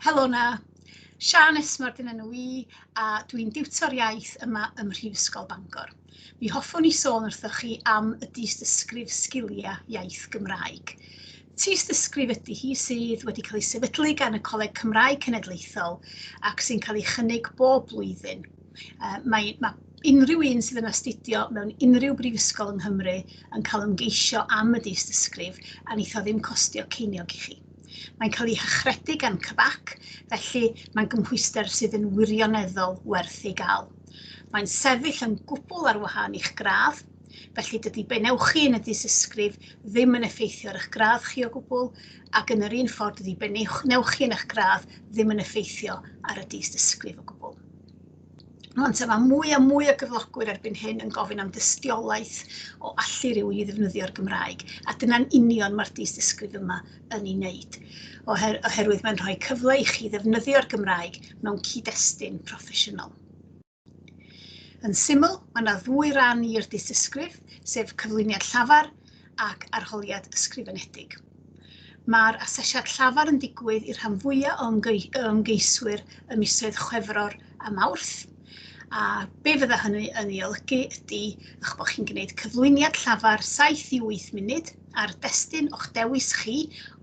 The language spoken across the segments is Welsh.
Helo 'na. Siân Esmard yn enw i a dwi'n diwtor iaith yma ym Mhrifysgol Bangor. Mi hoffwn i sôn wrthoch chi am y dystysgrif Sgiliau Iaith Gymraeg. Tystysgrif ydy hi sydd wedi cael ei sefydlu gan y Coleg Cymraeg Cenedlaethol ac sy'n cael ei chynnig bob blwyddyn. Uh, mae, mae unrhyw un sydd yn astudio mewn unrhyw brifysgol yng Nghymru yn cael ymgeisio am y dystysgrif a neith o ddim costio ceiniog i chi. Mae'n cael ei hychredu gan CBAC, felly mae'n gymhwyster sydd yn wirioneddol werth ei gael. Mae'n sefyll yn gwbl ar wahân i'ch gradd, felly dydy be wnewch chi yn y dysysgrif ddim yn effeithio ar eich gradd chi o gwbl, ac yn yr un ffordd dydy be wnewch chi yn eich gradd ddim yn effeithio ar y dysysgrif o gwbl. Rŵan te, mae mwy a mwy o gyflogwyr erbyn hyn yn gofyn am dystiolaeth o allu rhywun i ddefnyddio'r Gymraeg, a dyna'n union mae'r dystysgrif yma yn ei wneud, oher oherwydd mae'n rhoi cyfle i chi ddefnyddio'r Gymraeg mewn cyd-destun proffesiynol. Yn syml, mae yna ddwy ran i'r dystysgrif, sef cyflwyniad llafar ac arholiad ysgrifenedig. Mae'r asesiad llafar yn digwydd i'r rhan fwyaf o ymgeiswyr ym misoedd Chwefror a Mawrth, a be fydda hynny yn ei olygu ydy eich bod chi'n gwneud cyflwyniad llafar 7 i 8 munud ar destun o'ch dewis chi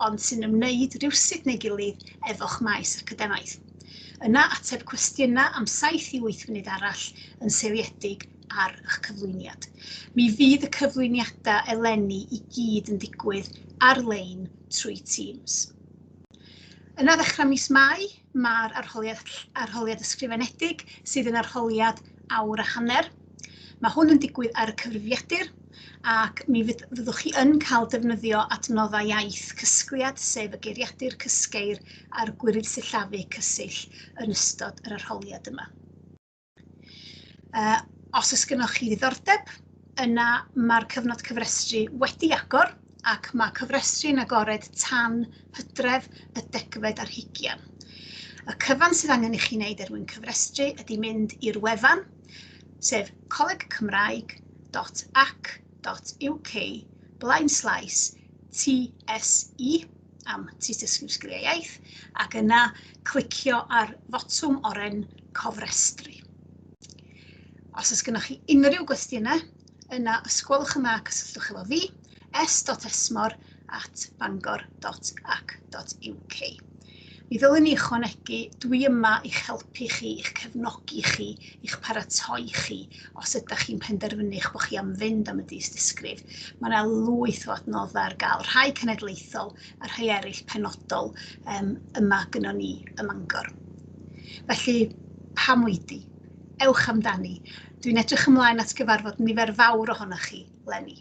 ond sy'n ymwneud rywsut neu gilydd efo'ch maes academaidd. Yna ateb cwestiynau am 7 i 8 munud arall yn seiliedig ar eich cyflwyniad. Mi fydd y cyflwyniadau eleni i gyd yn digwydd ar-lein trwy Teams. Yna ddechrau mis Mai, mae'r arholiad, arholiad ysgrifenedig sydd yn arholiad awr a hanner. Mae hwn yn digwydd ar y cyfrifiadur ac mi fyddwch chi yn cael defnyddio adnoddau iaith cysgliad, sef y geiriadur cysgeir a'r gwirydd sillafu cysill yn ystod yr arholiad yma. Uh, os oes gennych chi ddiddordeb, yna mae'r cyfnod cyfrestru wedi agor ac mae cyfrestru yn agored tan hydref y degfed ar hugian. Y cyfan sydd angen i chi wneud er mwyn cyfrestru ydy mynd i'r wefan, sef colegcymraeg.ac.uk blaen slaes TSE am tystysgrif sgiliau iaith ac yna clicio ar fotwm oren cofrestru. Os oes gennych chi unrhyw gwestiynau, yna ysgwelwch yma cysylltwch efo fi, s.esmor at bangor.ac.uk. Mi ddylwn ni ychwanegu, dwi yma i'ch helpu chi, i'ch cefnogi chi, i'ch paratoi chi os ydych chi'n penderfynu eich bod chi am fynd am y dystysgrif, mae yna lwyth o adnoddau ar gael, rhai cenedlaethol a rhai eraill penodol um, yma gyno ni ym Mangor. Felly, pam wedi? Ewch amdani. Dwi'n edrych ymlaen at gyfarfod nifer fawr ohonoch chi, Lenny.